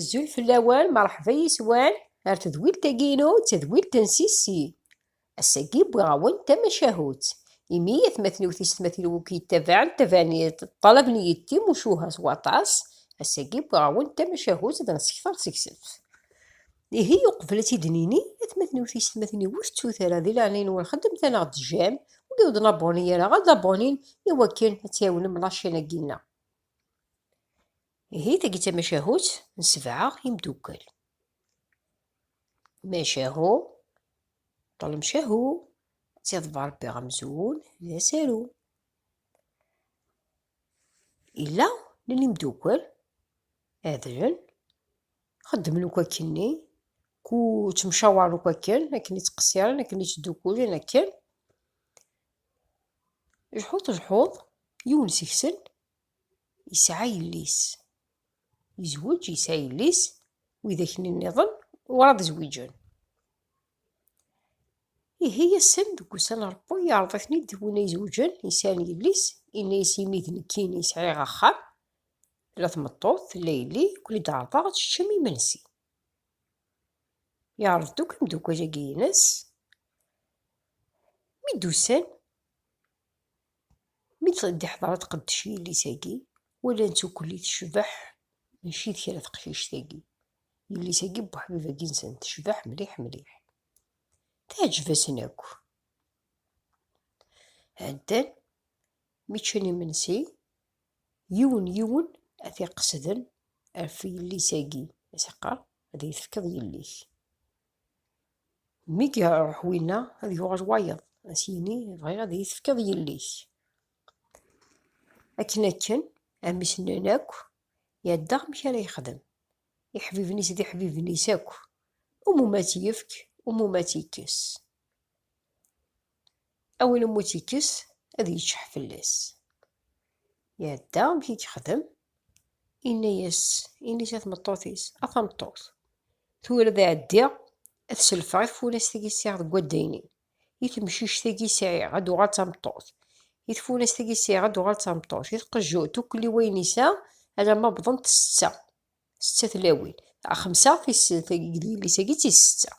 Zul fell-awen, merḥba yis-wen ar tedwilt-agi-inu d tadwilt n Sissi. Ass-agi wwiɣ-awen tamacahut, imi atmaten-iw tiysetmatin-iw akk yettabaɛen tabaniḍ d ṭṭalab n yiḍ timucuha s waṭas, ass-agi wwiɣ-awen tamacahut ad nsekter seg-sent. Ihi uqbel ad t-id-nini, atmaten-iw tiysetmatin-iw ur tettut ara di leɛnaya-nwen xedmet-aneɣ-d j'aime, wigi ur d-naboni ara ad aboni-n i wakken ad tɛiwnem lacin-agi-nneɣ. Ihi tagi d tamacahut n sebɛa imdukal. Macahu, ṭṭlem cahu, tt-iḍbar Rebbi amzun d asaru. Illa n imdukal, adlen, xeddmen akk akkenni, ku ttemcawaren akk akken, akken i ttqessiren, akken i ttdukkulen akken. Jḥut jḥuḍ, yiwen seg-sen yesɛa yelli-s. Yezweǧ, yesɛa yelli-s, widak-nniḍen werɛad zwiǧen. Ihi ass-n deg ussan Ṛebbu yeɛreḍ-iten-id win ay izewǧen, yesɛan yelli-s, yenna-as imi d nekkini i sɛiɣ axxam, tella tmeṭṭut, tella yelli, ad ken-id-ɛerḍeɣ ad teččem imensi. Yeɛreḍ-d akk imeddukal-agi-ines. Mi d-usan, mi d-iḥḍer tqeddec yelli-s-agi, walan-tt ukli tecbeḥ mačči d kra teqcict-agi. Yelli-s-agi n Buḥbib-agi-nsen tecbeḥ mliḥ mliḥ. Teɛǧeb-asen akk. Ɛeddan, mi ččan imensi, yiwen yiwen ad t-iqesden ɣef yelli-s-agi, as-iqqar, Ad iyi-tefkeḍ yelli-k. Mi iruḥ winna, ad yuɣal wayeḍ, ad as-yini, bɣiɣ ad iyi-tefkeḍ yelli-k. Akken akken, amisen-nni akk yedda amek ara yexdem. Iḥbiben-is d iḥbiben-is akk, umuma tt-yefk, umuma tt-yekkes. A win umi tt-yekkes, ad yeččeḥ fell-as. Iɛedda amek i yexdem, inna-yas ini-s i tmeṭṭut-is, A tameṭṭut, tura ad ɛeddiɣ ad selfeɣ i tfunast-agi sɛiɣ deg waddaynin, i temcict-agi sɛiɣ ad d-tuɣal d tameṭṭut, i tfunast-agi sɛiɣ ad d-tuɣal d tameṭṭut, i tqejjut, ukli wayen yesɛa alamma wwḍent setta. Setta tlawin. Xemsa tis tagi d yelli-sagi d tis setta.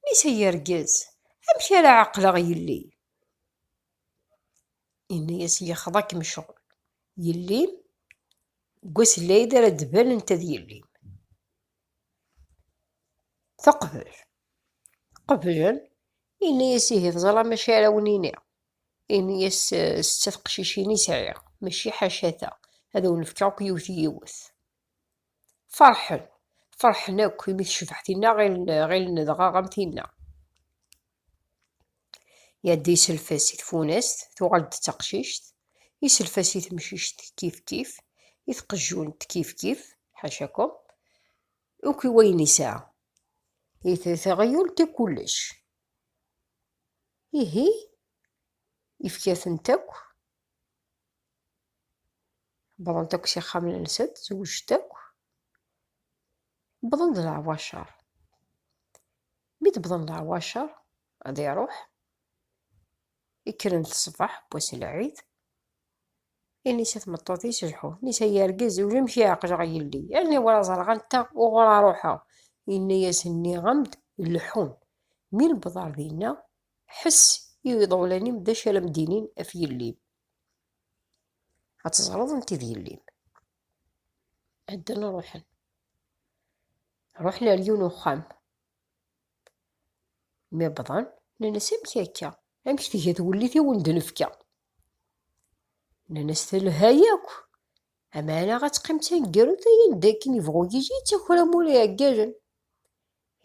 Mmi-s ay argaz, amek ara ɛeqleɣ yelli? Yenna-as yexḍa-kem ccɣel. Yelli-m deg wass n lɛid ara d-tban anta d yelli-m. Teqbel. Qeblen. Yenna-as ihi teẓram acu ara wen-iniɣ. Ini-as setta teqcicin i sɛiɣ, mačči ḥaca ta, ad awen-fkeɣ akk yiwet yiwet. Ferḥen, ferḥen akk imi tecbeḥ tinna, ɣilen dɣa am tinna. Iɛedda iself-as i tfunast, tuɣal-d d taqcict, iself-as i temcict kifkif, i tqejjunt kifkif, ḥacakum, akk i wayen isɛa. I teɣyult i kullec, Ihi, ifka-tent akk, wwḍent akk s ixxamen-nsent, zewǧent akk, wwḍen-d leɛwacer. Mi d-wwḍen leɛwacer, ad iruḥ. Kkren-d ṣṣbeḥ n wass n lɛid, inisa i tmeṭṭut-is lḥu, inisa i urgaz, amek i ɛeqleɣ yelli, aniwer ad ẓreɣ anta uɣur ara ruḥeɣ, yenna-yasen nniɣ-am-d leḥḥun, mi newweḍ ɣer dinna, ḥess i iḍewlan-im d acu ara m-d-inin ɣef yelli-m, ad teẓreḍ anta i d yelli-m. Ɛeddan ruḥen, ruḥen ɣer yiwen uxxam. Mi wwḍen, nnan-as, Amek akka? Amek tga twellit i wen-d-nefka? Nnan-as, Telha yakk. Amana ad teqqim d taneggarut ay anda akken yebɣu yili, d takram ur iɛeggalen.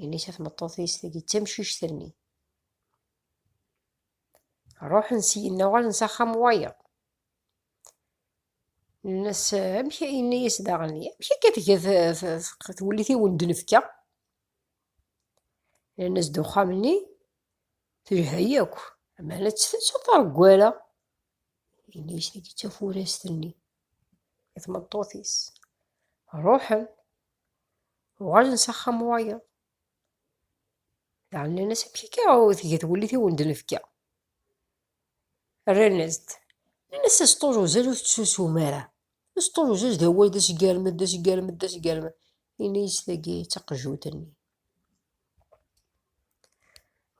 Ini-as i tmeṭṭut-is tagi d tamcict-nni. Ruḥen syin, uɣalen s axxam wayeḍ. Nnan-as, amek, yenna-as daɣen, amek akka tga twellit i wen-d-nefka? Rran-as-d uxxam-nni, telha yakk, aman ad tt-taṭar deg wara. Ini-as tagi d tafurast-nni, i tmeṭṭut-is. Ruḥen, uɣalen s axxam wayeḍ. Daɣen nnan-as, amek akka ur tgi twellit i wen-d-nefka? Rran-as-d. Nnan-as aseṭṭul uzal ur tettusum ara. Aseṭṭul uzal d awal d asgermed, d asgermed, d asgermed. Ini-as tagi d taqejjut-nni.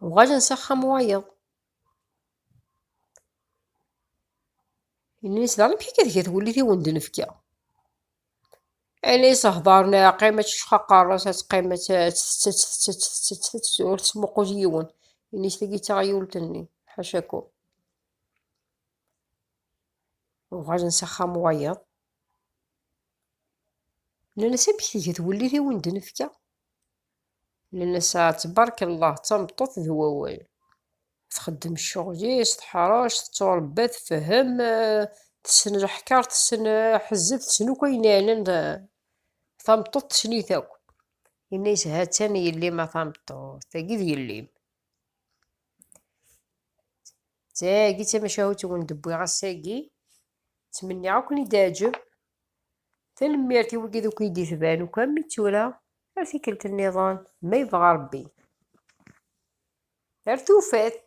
Uɣalen s axxam wayeḍ. Ini-as daɣen amek akka tga twellit i wen-d-nefka. Alis heddren iɛqim ad teccex aqerras ad teqqim ad tettett ur tettmuqul yiwen ini-s tagi d taɣyult-nni ḥacakum uɣalen s axxam wayeḍ nnan-as amek tgiḍ wellih i wen-d-nefka Nenna-as tbarek Allah, d tameṭṭut d wawal. Txeddem ccɣel-is, teḥṛec, tettuṛebba, tfehhem, tessen leḥkeṛ, tessen aḥezzeb, tessen akk ayen iɛnan tameṭṭut, tessen-it akk. Yenna-as ha-tt-an yelli-m a tameṭṭut, tagi d yelli-m. Tagi d tamacahut i wen-d-wwiɣ ass-agi, ttmenniɣ ad ken-id-teɛǧeb. Tanemmirt i wigi deg i d-itban uko am mi tura, ar tikkelt nniḍen, ma yebɣa Rebbi. Ar tufat!